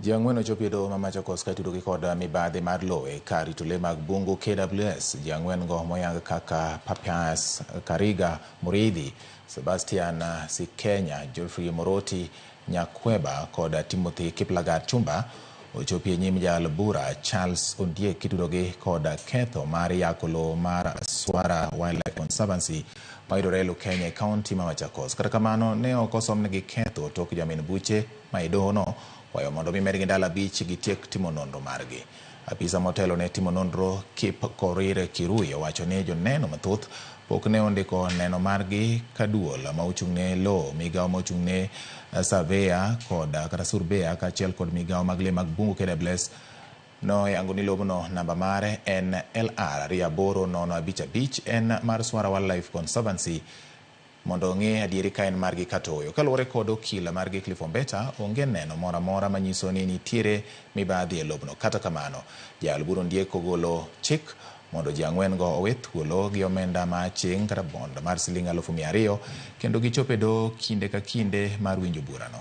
Ji ang'wen ochopo e doho ma Machakos ka itudogi kod mibadhi mar lowo e kar rito le mag bungu KWS. Ji ang'wen-go moyang kaka Papias Kariga Muridhi, Sebastian Sikenya, Geoffrey Moroti Nyakweba kod Timothy Kiplagat Chumba ochopi e nyim jal bura Charles Ondiek kitudogi kod ketho mar yako lowo mar Swara Wildlife Conservancy mayudore e Lukenya e kaunti ma Machakos. Kata kamano, ne ok osomnegi ketho tok jamin buche ma e dohono kwayo mondo omi medgi ndalo abich gitiek timo nonro margi. Apisa motelo ne timo nonro Kip Korir Kirui owacho ni joneno mathoth pok ne ondiko neno margi ka duol ma ochung'ne lowo, migawo ma ochung'ne surveyor kod kata surbeya kaachiel kod migawo mag le mag bungu KWS Noyango ni lobno namba mare en LR ariyo aboro nono abich abich en mar Swara Wildlife Conservancy mondo ong'e adieri ka en margi kata ooyo. Kaluwore kod okil margi Cliff Ombeta, onge neno moro amora manyiso ni nitiere mibadhi e lobno. Kata kamano, jaal bura Ondiek ogolo chik mondo ji ang'wen go owe thuolo gi omenda ma aching' kata bond mar siling alufu mia ariyo kendo gichop e doho kinde ka kinde mar winjo burano.